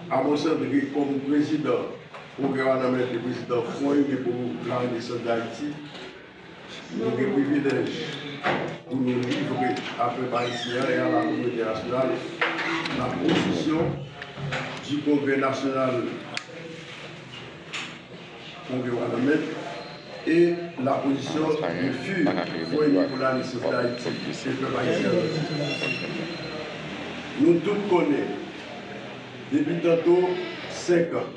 Amos André kòm prezidan pwogram a nan men de prezidan Fwon Ine pou la Renesans Dayiti. Nou gen privilèj pou nou livre a pèp ayisyen an e a la kominote entènasyonal la pozisyon di Kongrè nasyonal. Pompeo a lanmè e la pozisyon de fur voye Nicolas le chef d'Haiti e pèp Ayisyen an nan difikilte. Nou tout konnen depi tanto 5 an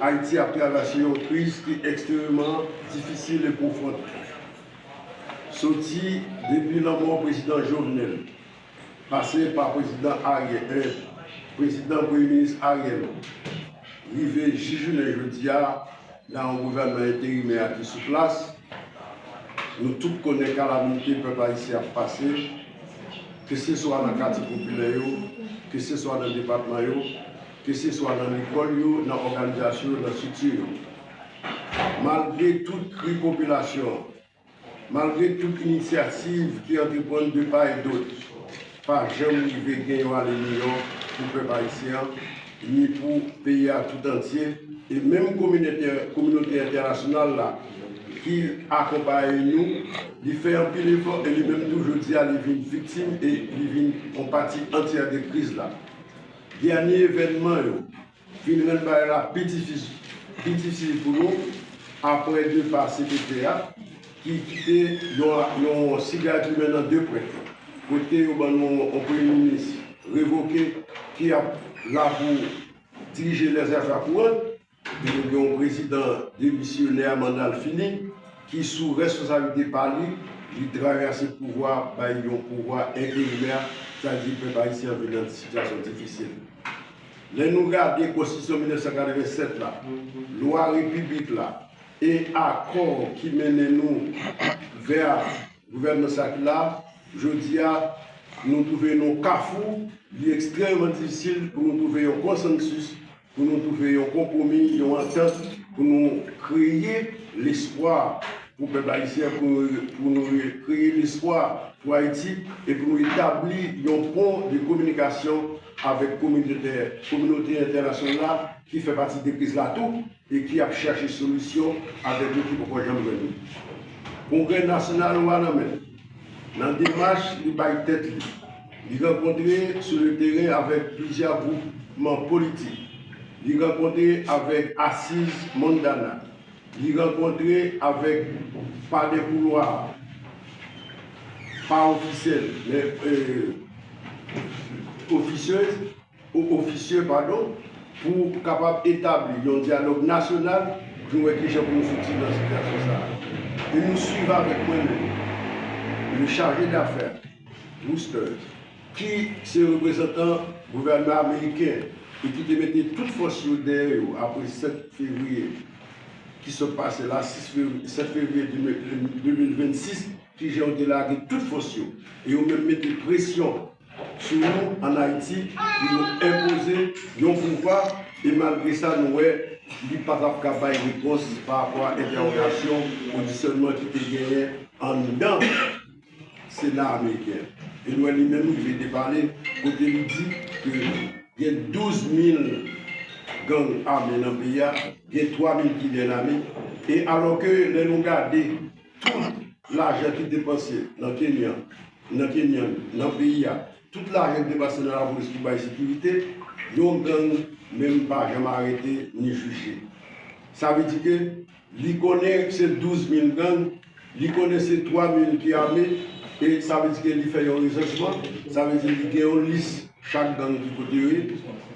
Ayiti ap travèse yon kriz ki ekstrememan difisil e pwofond. Soti depi lanmò prezidan Jovenel. pase pa prezidan Ariel I, prezidan premye minis Ariel rive jis jounen jodi a nan yon gouvènman enterimè a ki sou plas, nou tout konnen kalamite pèp ayisyen ap pase, keseswa nan katye popilè yo, keseswa nan depatman yo, keseswa nan lekòl yo, nan òganizasyon yo, nan strikti yo. Malgre tout kri popilasyon an, Malgre tout inisyativ ki antreprann de pa e dot, pa janm rive gen yon ale miyò pou pèp ayisyen an, ni pou peyi a tout antye, e menm kominote entènasyonal la ki akonpaye nou, li fè anpil efò e li menm tou jodi a li vin viktim e li vin yon pati antyè de kriz la. Dènye evènman yo. Vin rann bagay la pi difisil pou nou apre depa cpt a ki kite yon siga dimen nan 2 pwent yo. Kote yo ban nou yon premye minis revoke ki ap la pou dirije lèzafè kouran. Epi nou gen yon prezidan demisyonè a manda l fini ki sou reskonsablite pa li, li travèse pouvwa a bay yon pouvwa enterimè, sa vle di pèp ayisyen an vin nan sityasyon difisil. Lè nou gade Konstitisyon 1987 la, Lwa Repiblik la e akò ki mennen nou vè gouvènman sa ki la jodi a, nou twouve nou kafou, li ekstrèmeman difisil pou nou twouve yon konsansis, pou nou twouve yon konpwomi, yon antant pou nou kreye lespwa pou pèp ayisyen, pou nou kreye lespwa pou Ayiti e pou nou etabli yon pon de kominikasyon. avèk kominote kominote entènasyonl la ki fè pati de kriz la tou e ki ap chache solisyon avèk nou ki poko janm jwenn li. Kongrè nasyonal ou a nan men l. Nan demach li bay tèt li, li rankontre sou le teren avèk plizyè gwoupman politik, li rankontre avèk asiz Mondana, Li rankontre avèk pa dè koulwa, pa ofisyèl, men ofisyèz, ou ofisyè padon, pou kapab etabli yon dyalòg nasyonal pou nou wè ki jan pou nou soti nan sitiyasyon sa a. E nou swiv avèk mwen menm, le chargé d'affaires, Rousters, ki se reprezantan gouvènman ameriken e ki te mete tout fòs yo dèyè yo apre 7 fevriye ki sot pase la, 7 fevriye 2026, kijan yo te lage tout fòs yo e yo menm mete presyon sou nou ann Ayiti pou yo enpoze yon pouwva e malgre sa nou wè li pa t ap ka bay repons pa rapò a entèwogasyon, odisyònman ki te genyen anndan. Sena ameriken Edward li menm rive depale kote li di ke gen 12 mil gang ame nan peyi a, gen 3 mil ki byen ame e alò ke lè nou gade tout lajan ki depanse nan Kenya, nan Kenyan, nan peyi a, tout lajan ki depanse nan lapolis pou bay sekirite, yon gang menm pa janm arete ni jije. Sa vle di ke. Li konnen se 12 mil gang, li konnen se 3 mil ki ame, e sa vle di ke li fè yon resansman, sa vle di li gen yon lis chak gang ki kote yo ye,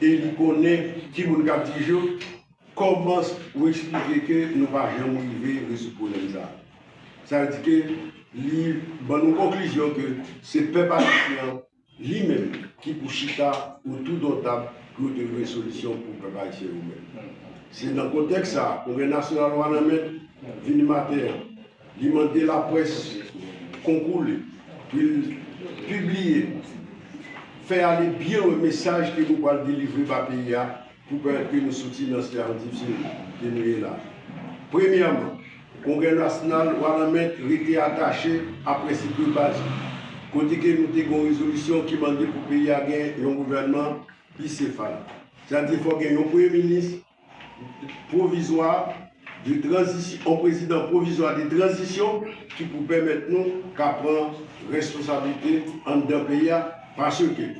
e li konnen ki moun kap dije yo, kòman ou eksplike ke nou pa janm rive rezoud pwoblèm sa? Sa vle di ke li ban nou konklizyon ke se pèp ayisyen an. Li menm ki pou chita otou don tab pou yo te vwe solisyon pou pèp ayisyen yo menm. Se nan kontèks sa a, Kongrè Nasyonal Wanament vini maten an. Li mande laprès konkou li pou l pibliye, fè ale byen lwen mesaj ke nou pral delivre ba peyi a, Pou pèmèt ke nou soti nan sitiyasyon difisil ke nou ye la. Premyèman, Kongrè Nasyonal Wanament rete atache a prensip de baz yo, kote ke nou te gen yon rezolisyon ki mande pou peyi a gen yon gouvènman bisefal, sètadi fòk gen yon premye minis pwovizwa, de tranzisyon, yon prezidan pwovizwa de tranzisyon ki pou pèmèt nou ka pran responsablite anndan peyi a paske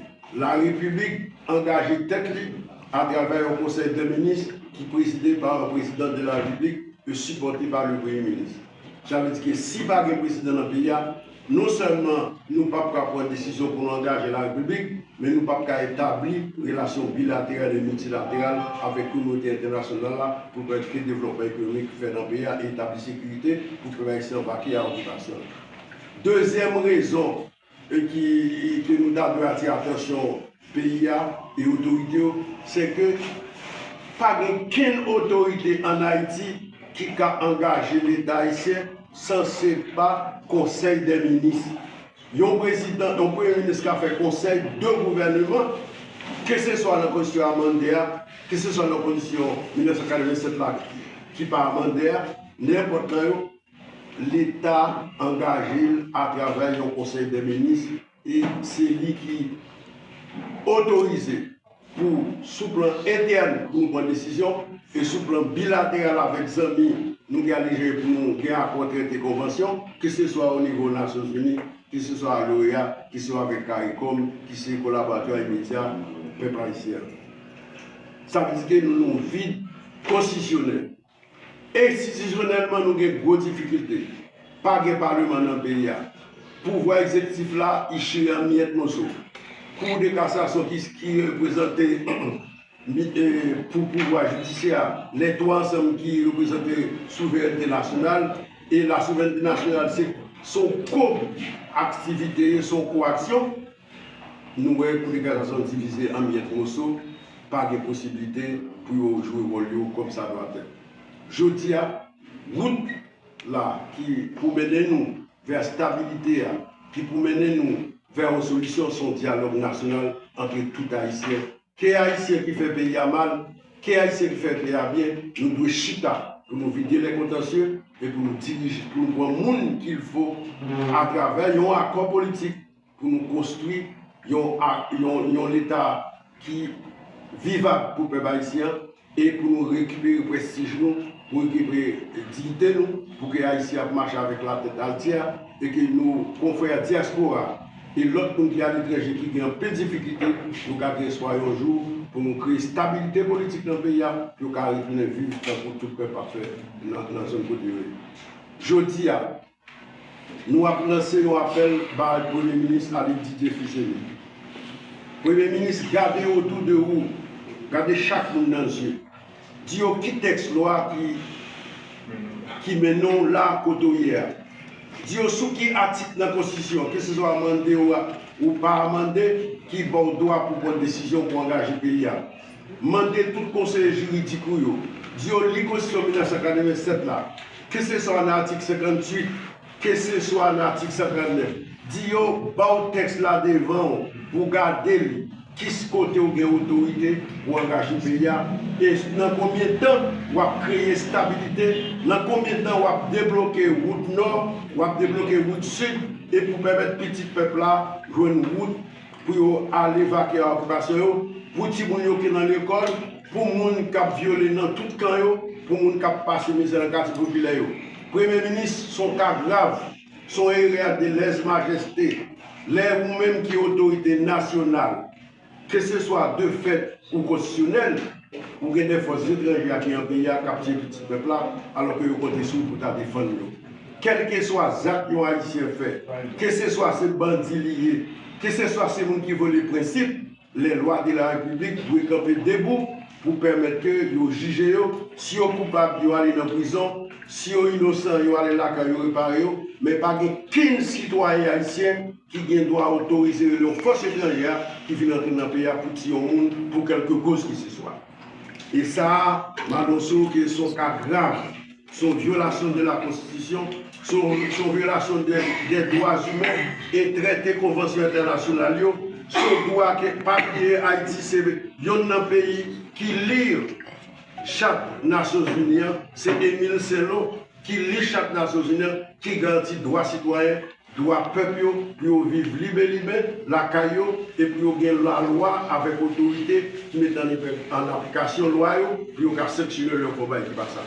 la repiblik angaje tèt li atravè yon konsèy dè minis ki prezide pa yon prezidan de la repiblik e sipòte pa le premye minis. Sa vle di ke si pa gen prezidan nan peyi a, Non sèlman nou pap ka pran desizyon pou nou angaje Larepiblik, men nou pap ka etabli relasyon bilateral e miltilateral avèk kominote entènasyonal la pou pratike devlopman ekonomik fè nan peyi a e etabli sekirite pou pèp ayisyen an vake a okipasyon l. Dezyèm rezon ke nou ta dwe atire atansyon peyi a e otorite yo se ke pa gen kenn otorite an Ayiti ki ka angaje leta ayisyen san se pa konsèy dè minis. Yon prezidan, yon premye minis ka fè konsèy de gouvèneman ke se swa nan konstitisyon amande a, ke se swa nan konstitisyon 1987 la ki pa amande a, nenpòt nan yo, leta angaje l atravè yon konsèy dè minis. E se li ki otorize pou sou plan entèn pou nou pran desizyon e sou plan bilateral avèk zanmi nou gen alegere pou nou gen akò, trete, konvansyon, ke se swa o nivo Nasyon Zini, ke se swa al OEA, ke se swa avèk caricom ki se kolaboratè imedya pèp ayisyen an. Sa vle di ke nou nan yon vid konstitisyonèl. Enstitisyonèlman nou gen gwo difikilte. Pa gen paleman nan peyi a. Pouvwa egzektif la iche an miyèt moso. Kou de kasasyon ki reprezante pou pouvwa jidisyè a, lè tou ansanm ki reprezante souverènte nasyonal, e la souverènte nasyonal se w kob aktivite, se w ko aksyon. Nou wè kote Galazon divize an miyèt moso, pa gen posibilite pou yo jwe wòl yo kòm sa dwa fèt. Jodi a, wout la ki pou mennen nou vè stabilite a, ki pou mennen nou vè yon solisyon son dyalòg nasyonal antre tout Ayisyen. Ke Ayisyen ki fè peyi a mal, ke Ayisyen ki fè peyi a byen, nou dwe chita pou nou vide lè kontansye e pou nou dirije, pou nou pran moun kilfo atravè yon akò politik. Pou nou konstwi yon Leta ki vivab pou pèp ayisyen an e pou nou rekipere prestij nou, pou rekipere diyite nou, pou ke Ayiti ap mache avèk latèt altye a e ke nou konfrè dyaspora e lòt moun ki aletranje ki gen anpil difikilte, nou ka gen espwa yon jou pou nou kreye stabilite politik nan peyi a, pou yo ka retounen viv tankou tout pèp ap fè nan zòn kote yo ye jodi a. Nou ap lanse yon apèl bay Premye Minis Abed Didier Fils-Aimé. Premye Minis gade otou de ou, gade chak moun nan zye, di yo ki tèks lwa ki ki mennen w la kote w ye a. Di yo sou ki atik nan Konstitisyon an, keseswa amande ou ou pa amande, ki ba w dwa pou pran desizyon pou angaje peyi a. Mande tout konseye jiridik ou yo, di yo li Konstitisyon 1987 la, Keseswa nan atik 58, keseswa nan atik 139, di yo ba w tèks la devan w pou w gade li, kis kote w gen otorite pou w angaje peyi a, e nan konbyen tan w ap kreye stabilite, nan konbyen tan w ap debloke wout Nò, w ap debloke wout Sid, e pou pèmèt pitit pèp la jwenn wout. pou yo al evakye a okipasyon yo, pou timoun yo ki nan lekòl, pou moun k ap vyole nan tout kan yo, pou moun k ap pase mizè nan katye popilè yo. Premye minis, s on ka grav, s on erè de lèz majeste lè ou menm ki otorite nasyonal, keseswa de fèt ou konstisyonèl, Ou gen de fòs etranje ak yan peyi a k ap tiye pitit pèp la alò ke yo konte sou ou pou ta defann yo. Kèlkeswa zak yon Ayisyen fè, keseswa se bandi li ye, keseswa se moun ki vole prensip, lè lwa de la repiblik dwe kanpe debou pou pèmèt ke yo jije yo, si yo koupab yo ale nan prizon, si yo inosan yo ale lakay yo repare yo, men pa gen kenn sitwayen Ayisyen. ki gen dwa otorize rele yon fòs etranjè a ki vin antre nan peyi a pou tiye yon moun pou kèlke koz ki se swa. E sa a, Madonceau, ke se yon ka grav, se yon vyolasyon de la konstitisyon, se yon se yon vyolasyon de dè dwa imen e trete konvansyon entènasyonal yo, se yon dwa ke, pa bliye, Ayiti se yonn nan peyi ki li Chat Nasyonzini an, se Emile Selon ki li Chat Nasyonzini an ki garanti dwa sitwayen Dwa pèp yo pou yo viv lib e libè lakay yo e pou yo gen lalwa avèk otorite ki met an aplikasyon lwa yo pou yo ka sanksyone lè yo fè yon bagay ki pa sa.